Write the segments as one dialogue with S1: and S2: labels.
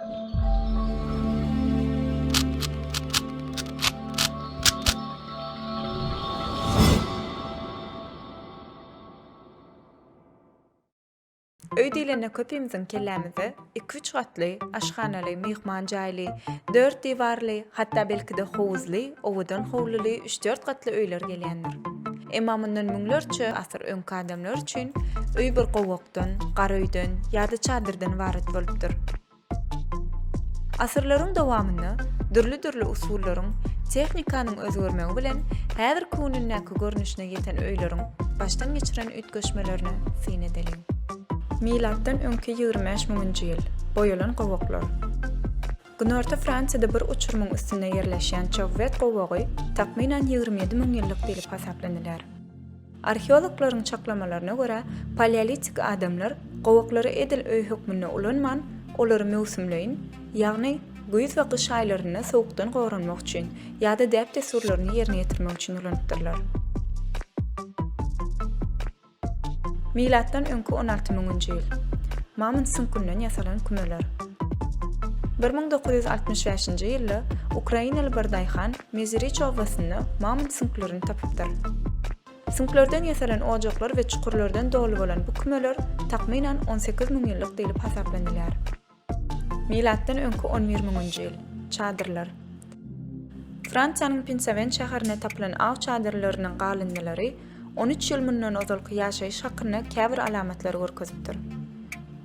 S1: Öý diýlende köpimiziň kellämize iki-üç gatly, aşhanaly, myhman jaýly, dört diwarly, hatda belki-de howuzly, owadan howluly üç-dört gatly öýler gelýändir. Emma mundan müňlerçe asyr öňki adamlar üçin öý bir gowakdan, gara öýden ýa-da çadyrdan ybarat bolupdyr. Asyrlaryň dowamynda dürli-dürli usullaryň, tehnikanyň özgermegi bilen häzirki günündäki görnüşine ýeten öýleriň başdan geçiren üýtgeşmelerine syn edeliň. Milatdan öňki ýigrimi bäş müňünji ýyl. Boýalan gowaklar. Günorta Fransiýada bir uçurymyň üstünde ýerleşýän Çovvet gowagy takmynan ýigrimi ýedi müň ýyllyk diýlip hasaplanylýar. Arheologlaryň çaklamalaryna görä, paleolitik adamlar gowaklary edil öý hökmünde ulanman, olary möwsümleýin, ýagny güýz we gyş aýlarynda sowukdan goranmak üçin ýa-da däp-dessurlaryny ýerine ýetirmek üçin ulanypdyrlar. Milatdan öňki on alty müňünji ýyl. Mamont süňkünden ýasalan kümeler. Bir müň dokuz ýüz altmyş bäşinji ýylda ukrainaly bir daýhan Meziriç obasynda mamont süňklerini tapypdyr. Süňklerden ýasalan ojaklar we çukurlardan doly bolan bu kümeler takmynan on sekiz müňýyllyk diýlip hasaplanylýar. Milatdan öňki on bir müňünji ýyl. Çadyrlar. Fransiýanyň Pinsawen şäherinde tapylan aw çadyrlarynyň galyndylary on üç ýyl mundan ozalky ýaşaýyş hakynda käbir alamatlary görkezipdir.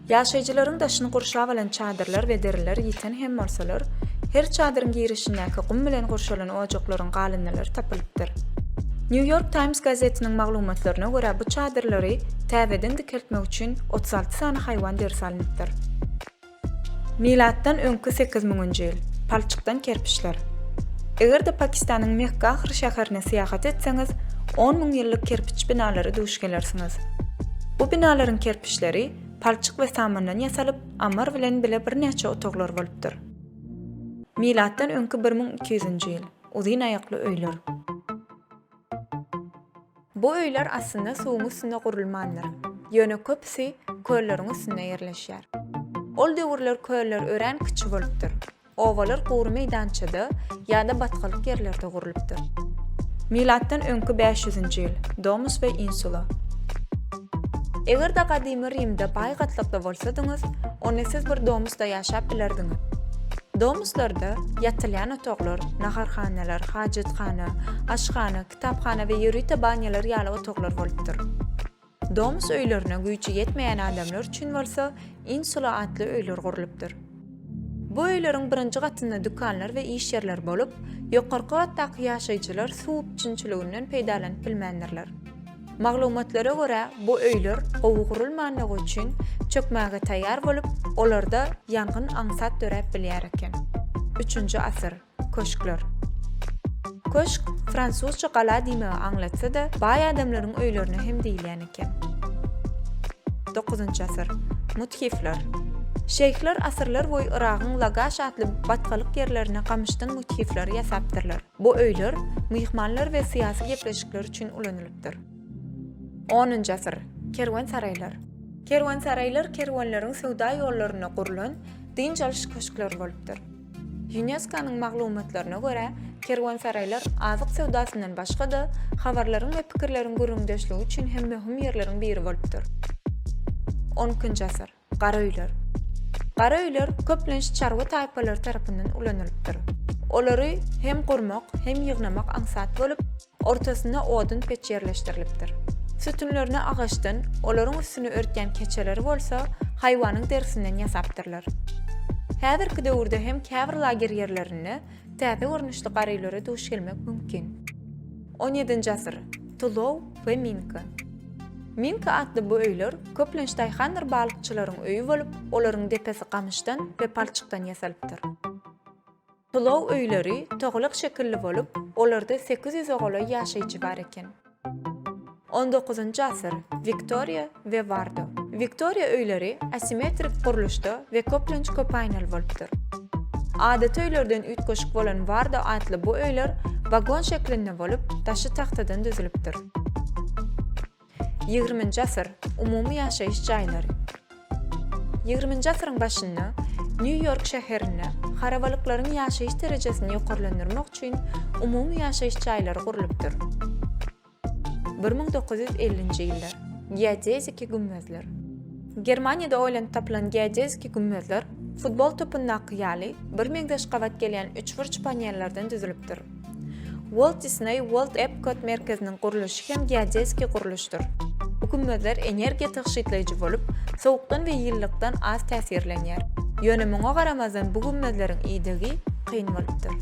S1: Ýaşaýjylaryň daşyny gurşap alan çadyrlar we deriler ýiten hem bolsalar, her çadyryň girişindäki gum bilen gurşalan ojaklaryň galyndylary tapylypdyr. New York Times gazetiniň maglumatlaryna görä bu çadyrlary täzeden dikeltmek üçin otuz alty sany haýwan derisi alynýar. öwrenilipdir. Milatdan öňki sekiz müňünji ýyl. Palçykdan kerpiçler. Eger-de Pakistanyň Mehgahir şäherine syýahat etseňiz, on müň ýyllyk kerpiç binalara duş gelersiňiz. Bu binalaryň kerpiçleri palçyk we samandan ýasalyp, ammar bilen bile birnäçe otaglar bolupdyr. Milatdan öňki bir müň iki ýüzünji ýyl. Uzyn aýakly öýler. Bu öýler aslynda suwuň üstünde gurulmandyr. Ýöne köpüsi kölleriň üstünde ýerleşýär. Ol döwürler köller örän kiçi bolupdyr. Obalar gury meýdançada ýa-da batgalyk ýerlerde gurlupdyr. Milatdan öňki bäş ýüzünji ýyl. Domus we Insula. Eger-de gadymy Rimde baý gatlakda bolsadyňyz, onda siz bir domusda ýaşap bilerdiňiz. Domuslarda ýatylýan otaglar, naharhanalar, hajathana, aşhana, kitaphana we ýörite banýalar ýaly otaglar bolupdyr. Domus öýlerine güýji ýetmeýän adamlar üçin bolsa insula atly öýler gurlupdyr. Bu öýleriň birinji gatynda dükanlar we iş ýerleri bolup, ýokarky gatdaky ýaşaýjylar suw üpjünçiliginden peýdalanyp bilmändirler. Maglumatlara görä, bu öýler gowy gurulmandygy üçin çökmäge taýýar bolup, olarda ýangyn aňsat döräp bilýär eken. Üçünji asyr. Köşkler. Köşk, fransuzça gala diýmegi aňlatsa-da, baý adamlaryň öýlerine hem diýilýän eken. Dokuzynjy asyr. Müthifler. Şeýhler asyrlarboýy Yragyň Lagaş atly batgalyk ýerlerine gamyşdan müthifleri ýasapdyrlar. Bu öýler myhmanlar we syýasy gepleşikler üçin ulanylypdyr. Onunjy asyr. Kerwensaraýlar. Kerwensaraýlar kerwenleriň söwda ýollarynda gurlan dynç alyş köşkleri bolupdyr. Ýunesko-nyň maglumatlaryna görä, kerwensaraýlar azyk söwdasyndan başga-da, habarlaryň we pikirleriň gürrüňdeşligi üçin hem möhüm ýerleriň biri bolupdyr. Onkinji asyr. Gara öýler. Gara öýler köplenç çarwa taýpalary tarapyndan ulanylypdyr. Olary hem gurmak, hem ýygnamak aňsat bolup, ortasynda odun peç ýerleşdirilipdir. Sütünlerini agaçdan, olaryň üstüni örtýän keçeleri bolsa haýwanyň derisinden ýasapdyrlar. Häzirki döwürde hem käbir lager ýerlerinde Täze görnüşli garylara duş gelmek mümkin. On ýedinji asyr, Tulow we Minka. Minka atly bu öýler köplenç daýhandyr balykçylaryň öýi bolup, olaryň depesi gamyşdan we palçykdan ýasalypdyr. Tulow öýleri togalak şekilli bolup, olarda sekiz ýüze golaý ýaşaýjy bar eken. On dokuzynjy asyr, Wiktoriýa we Wardo. Wiktoriýa öýleri asimetrik gurluşda we köplenç köpaýnaly bolupdyr. Adaty öýlerden üýtgeşik bolan Wardo atly bu öýler wagon şeklinde bolup, daşy tagtadan düzülipdir. Ýigriminji asyr, umumy ýaşaýyş jaýlary. Ýigriminji asyryň başynda Nýu-Ýork şäherinde harabalyklaryň ýaşaýyş derejesini ýokarlandyrmak üçin umumy ýaşaýyş jaýlary gurlupdyr. Bir müň dokuz ýüz ellinji ýyllar. Geodeziki gümmezler. Germaniýada oýlanyp tapylan geodeziki gümmezler, futbol topundakky ýaly, birmeňzeş gabat gelýän üçburç panellerden düzülipdir. Walt Disney World Epcot merkeziniň gurluşy hem geodezikiý gurluşdyr. Bu gümmezler energiýa tygşytlaýjy bolup, sowukdan we ýyllykdan az täsirlenýär. Ýöne muňa garamazdan bu gümmezleriň idegi kyn bolupdyr.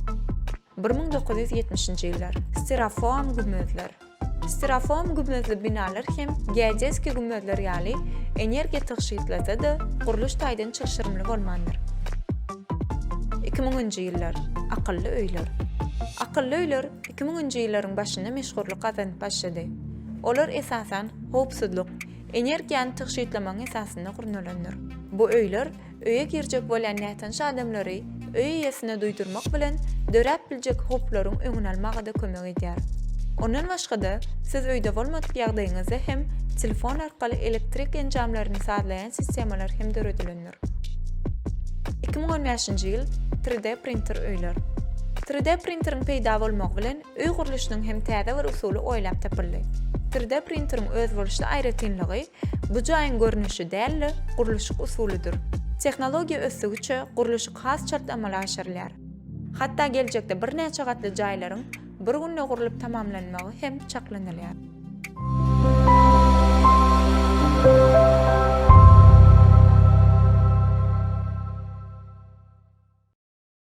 S1: Bir müň dokuz ýüz ýetmişinji ýyllar. Stereofoam gümmezler. Styrofoam gümmezli binalar hem geodeski gümmezler ýaly energiýa tygşytlasa-da, gurluş taýdan çylşyrymly bolmandyr. Iki müňünji ýyllar. Akylly öýler. Akylly öýler iki müňünji ýyllaryň başynda meşhurlyk gazanyp başlady. Olar esasan howpsuzlyk, energiýany tygşytlamagyň esasynda gurnalandyr. Bu öýler öýe girjek bolýan nätanyş adamlary öý eýesine duýdurmak bilen döräp biljek howplaryň öňüni almaga-da kömek edýär. Ondan başga-da, siz öýde bolmadyk ýagdaýyňyzda hem telefon arkaly elektrik enjamlaryny sazlaýan sistemalar hem döredilendir. Iki müň on bäşinji ýyl, Tri-D printer öýler. Tri-D printeriň peýda bolmagy bilen Öý gurluşynyň hem täze bir usuly oýlap tapyldy. Tri D printeriň özboluşly aýratynlygy bu jaýyň görnüşi däl-de, gurluşyk usulydyr. Tehnologiýa ösdügiçe gurluşyk has çalt amala aşyrylýar. Hatda geljekde birnäçe gatly jaýlaryň bir günde gurlup tamamlanmagy hem çaklanylýar.